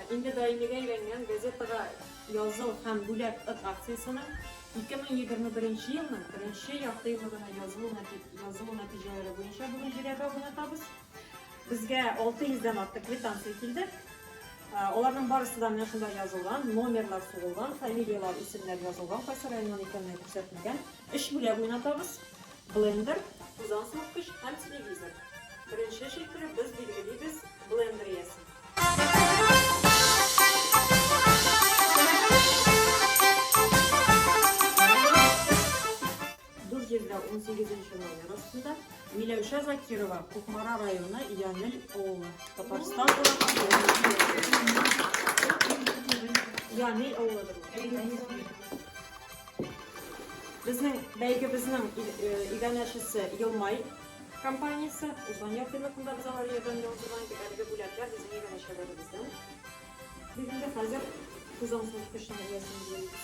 Инде даимигә әйләнгән газетага языл һәм бүләк ыр акциясенең 2021 елның беренче яртыеллыгына язылу язылу нәтиҗәләре буенча бүген җирәбә уйнатабыз. Безгә 600 дән артык квитанция килде. Аларның барысы да менә шунда язылган, номерлар сугылган, фамилиялар, исемнәр язылган, кайсы районнан икәнлеге күрсәтелгән. Өч бүләк уйнатабыз. Блендер, тузан суыткыч һәм телевизор. Беренче челтәре без билгелибез блендер иясен. Дүрт җирдә унсигезенче номер астында Миләүшә Закирова, Кукмара районы, Янел авылы, Татарстан Янел авылыдыр. Безнең бәйгебезнең иганәчесе Елмай компаниясе. Узган ел финотында без алар ярдәмендә уздырган идек. Әлеге бүләкләр безнең иганәчеләребездән. Без инде хәзер тузансыз кышның иясен эзлибез.